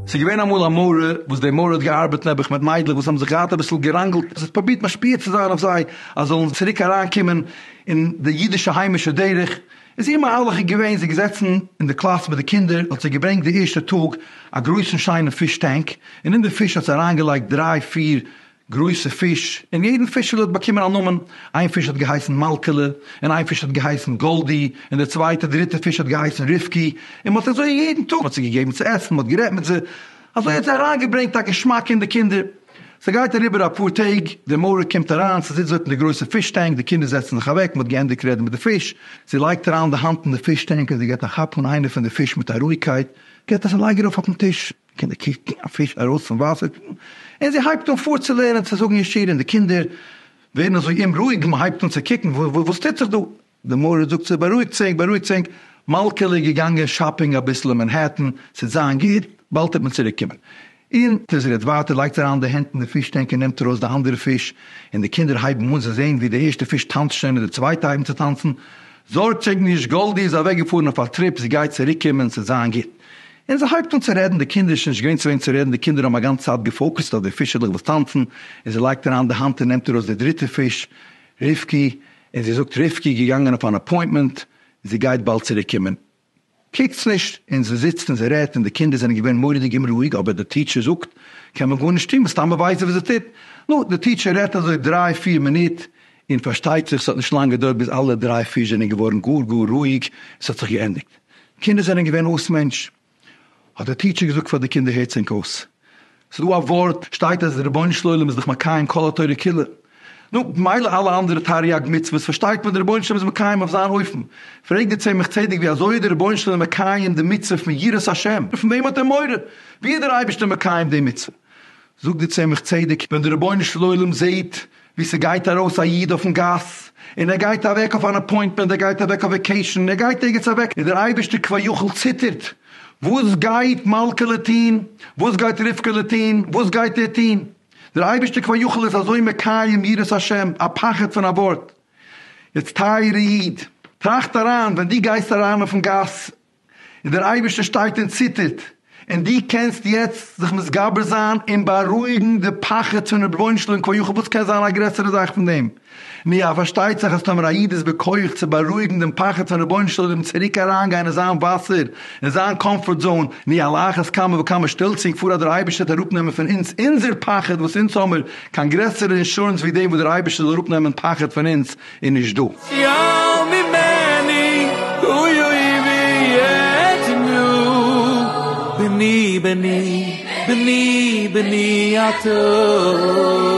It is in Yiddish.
ס'איז געווען אמאל א מראה וואס די מראה האט געארבעט נעבעך מיט מיידלעך וואס האבן זיך געהאט אביסל געראנגלט, זי האט פרובירט משפיע צו זיין אויף זיי אז זאלן צוריק אריינקומען אין די אידישע היימישע דרך, איז איר מהלך איז געווען זי איז געזעצן אין די קלאס מיט די קינדער האט זי געברענגט די ערשטע טאג א גרויסן שיינעם פיש טענק און אין די פיש האט זי אריינגעלייגט דריי פיר גרויסע פיש, און יעדן פישעלע האט באקומען א נאמען, איין פיש האט געהייסן מלכה'לע, און איין פיש האט געהייסן גאלדי, און די צווייטע דריטע פיש האט געהייסן רבקי, און מ'האט אזוי יעדן טאג, מ'האט זיי געגעבן צו עסן, מ'האט גערעדט מיט זיי, אזוי האט זיי אריינגעברענגט א געשמאק אין די קינדער. ס'גייט אריבער אפאר טעג, די מוהרא קומט אריין, ס'זיצט דארט אין די גרויסע פיש טענק, די קינדער זעצן זיך אוועק, מ'האט געענדיגט רעדן מיט די פיש, זי לייגט אריין די האנט אין די פיש טענק און זי געט א כאפ אן איינע פון די פיש מיט א רואיגקייט, געט עס א לייג ארויף אויפן טיש. קינדער קוקן א פיש ארויס פון וואסער און זי הייבט אן פארצולערנען צו זאגן ישיר און די קינדער ווערן אזוי אומרואיג און מען הייבט אן צו קוקן וואס טוט זיך דא, די מורה זאגט צו בארואיגט זינק בארואיגט זינק, מלכה'לע איז געגאנגען שאפינג אביסל אין מענהעטן, ס'וועט זיין גוט, באלד וועט מען צוריק קומען. און זי רעדט ווייטער לייגט אריין די הענט אין די פיש טענק און נעמט ארויס די אנדערע פיש און די קינדער הייבן אן זיי זעהן ווי די ערשטע פיש טאנצט שוין און די צווייטע הייבן צו טאנצן, זארגט זיך נישט גאלדי איז אוועק געפארן אויף א טריפ זי גייט צוריק קומען ס'וועט זיין גוט. און זי הייבט אן צו רעדן, די קינדער איז שוין נישט געווען צו וועם צו רעדן, די קינדער האבן א גאנצע צייט געפאוקעסט אויף די פישעלעך וואס טאנצן, און זי לייגט אריין די האנט און נעמט ארויס די דריטע פיש, רבקי, און זי זאגט, רבקי איז געגאנגען אויף אן אפוינטמענט, זי גייט באלד צוריקקומען. קוקטס נישט, און זי זיצט און זי רעדט, און די קינדער זענען געווען מורא'דיג אומרואיג, אבער די טיטשער זאגט, קען מען גארנישט טון, מסתמא ווייסט זי וואס זי טוט. נו, די טיטשער רעדט אזוי דריי פיר מינוט, און פארשטייט זיך ס'האט נישט לאנג געדויערט ביז אלע דריי פיש זענען געווארן גאר גאר רואיג, און ס'האט זיך געענדיגט. קינדער זענען געווען אויס מענטש, האט דער טיטשער געזאגט פאר די קינדער הערטס ענק אויס, ס'איז דא א ווארט שטייט אז דער רבונו של עולם איז דאך מקיים כל התורה כולה, נו במילא אלע אנדערע תריג מצוות פארשטייט מען דער רבונו של עולם איז מקיים אויף זיין אופן, פרעגט דער צמח צדק ווי אזוי איז דער רבונו של עולם מקיים די מצוה פון יראת השם, פון וועם האט ער מורא, ווי איז דער אייבערשטער מקיים די מצוה, זאגט די צמח צדק, ווען די רבונו של עולם זעהט ווי ס'גייט ארויס א איד אויפן גאס, און ער גייט אוועק אויף אן אפוינטמענט, ער גייט אוועק אויף וועקעישן, ער גייט ערגעץ אוועק, און דער אייבערשטער כבר יחל ציטערט, וואס גייט מלכה'לע טוהן? וואס גייט רבקה'לע טוהן? וואס גייט ער טוהן? דער אייבערשטער כבר יחל איז אזוי מקיים יראת השם, א פחד פון א ווארט. יעצט טייערע איד, טראכט אריין, ווען דו גייסט אריין אויפן גאס, און דער אייבערשטער שטייט און ציטערט, און דו קענסט יעצט זיך מתגבר זיין און בארואיגן די פחד פון רבונו של עולם כביכול, וואס קען זיין א גרעסערע זאך פון דעם? נו יא, פארשטייט זיך אז טאמער א איד איז בכח צו בארואיגן דעם פחד פון רבונו של עולם צוריק אריינגיין אין זיין וואסער, אין זיין קאמפארט זאון, נו על אחת כמה וכמה שטעלצינג פאר אז דער אייבערשטער וועט אראפנעמען פון אונז אונזער פחד, וואס אונז האמיר קיין גרעסערע אינשורענס ווי דעם וואס דער אייבערשטער זאל אראפנעמען פחד פון אונז, איז נישט דא. שיעור ממני הוא אויבי יתנו בני בני בני בני אתה.